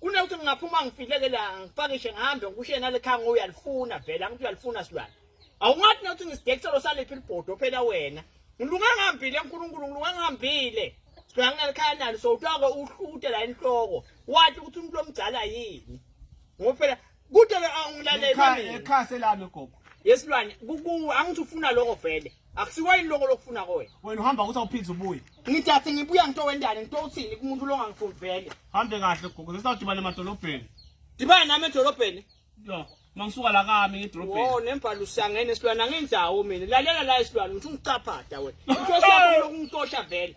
kunokuthi ngingaphuma ngifileke la ngipakishe ngihambe ngikusho yena lekhaya ngo uyalifuna vele angithi uyalifuna silwane awungathi nokuthi ngisidekiselo saliphi libhodo phela wena ngilunga ngihambile nkulunkulu ngilunga ngihambile silwane nginalekhaya nalo sowuthiwa-ke uhlute la enhloko wathi ukuthi umuntu omdala yini ngoba phela Kude ke angilaleli mina. Ekhase lami gogo. Yesilwane kuku angithi ufuna lokho vele. Akusiwa yini lokho lokufuna kowe. Wena uhamba ukuthi awuphinde ubuye. Ngithathe ngibuya ngito wendane ngito uthini kumuntu longangifuni vele. Hambe kahle gogo. Sesawudibana emadolobheni. Dibana nami edolobheni. Yo. Mangisuka la kami ngedolobheni. Wo nembhalo usangene silwana ngenzawo mina. Lalela la isilwana ngithi ungicaphatha wena. Inkosi yakho lokungitosha vele.